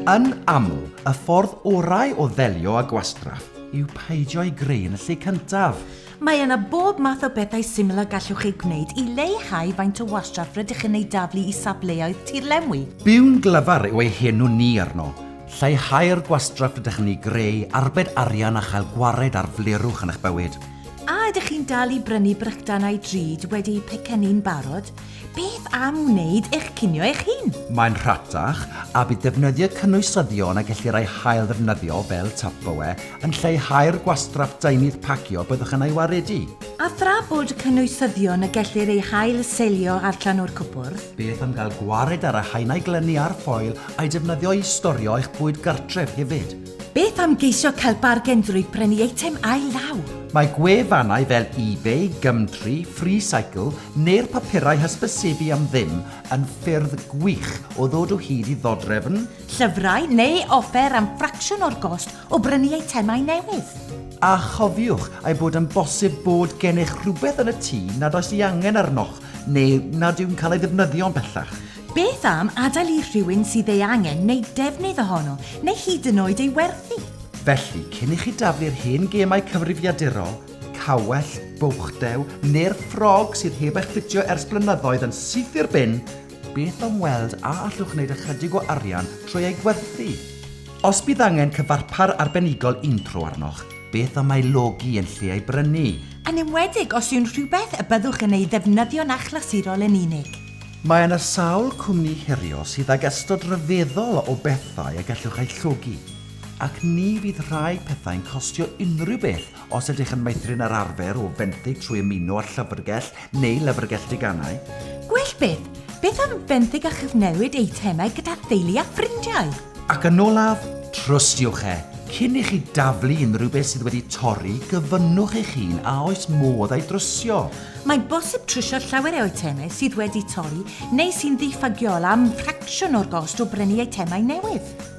Yn aml, y ffordd orau o ddelio â gwastraff yw peidio ei greu yn y lle cyntaf. Mae yna bob math o bethau syml a gallwch eu gwneud i leihau faint o wastraff rydych yn ei daflu i safleoedd tirlenwi. Byw'n glyfar yw ei henw ni arno. Lleihau'r gwastraff rydych yn ei greu, arbed arian a chael gwared ar flerwch yn eich bywyd. A ydych chi'n dal i brynu brycdanau drud wedi eu pecynnu'n barod? Beth am wneud eich cinio eich hun? Mae'n rhatach, a bydd defnyddio cynwysyddion a gellir eu hailddefnyddio fel Tupperware yn lleihau'r gwastraff deunydd pacio byddwch yn ei waredu. A thra bod cynwysyddion y gellir eu hail-selio ar llanw'r cwpwrdd? Beth am gael gwared ar y haenau glynu a'r ffoil a'i defnyddio i storio eich bwyd gartref hefyd? Beth am geisio cael bargen drwy brynu eitem ail-law? Mae gwefannau fel eBay, Gumtree, FreeCycle neu'r papurau hysbysebu am ddim yn ffyrdd gwych o ddod o hyd i ddodrefn, llyfrau neu offer am ffracsiwn o'r gost o brynu eitemau newydd. A chofiwch ei bod yn bosib bod gennych rhywbeth yn y tŷ nad oes ei angen arnoch neu nad yw'n cael ei ddefnyddio'n bellach. Beth am adael i rhywun sydd ei angen wneud defnydd ohono neu hyd yn oed ei werthu? Felly, cyn i chi daflu'r hen gemau cyfrifiadurol, Cawell, bwchddew, neu'r ffrog sydd heb eich ffitio ers blynyddoedd yn syth i'r bin, beth am weld a allwch wneud ychydig o arian trwy eu gwerthu? Os bydd angen cyfarpar arbenigol untro arnoch, beth am ei logi yn lle ei brynu? Yn enwedig os yw'n rhywbeth y byddwch yn ei ddefnyddio'n achlysurol yn unig. Mae yna sawl cwmni herio sydd ag ystod rhyfeddol o bethau y gallwch eu llogi, ac ni fydd rhai pethau'n costio unrhyw beth Os ydych yn meithrin yr arfer o fenthyg trwy ymuno â llyfrgell neu lyfrgell deganau, Gwell byth, beth am fenthyg a chyfnewid eitemau gyda theulu a ffrindiau? Ac yn olaf, trystiwch e! Cyn i chi daflu unrhyw beth sydd wedi torri, gofynnwch eich hun a oes modd ei drysio. Mae'n bosib trysio llawer o eitemau sydd wedi torri neu sy'n ddiffygiol am ffracsiwn o'r gost o brynu eitemau newydd.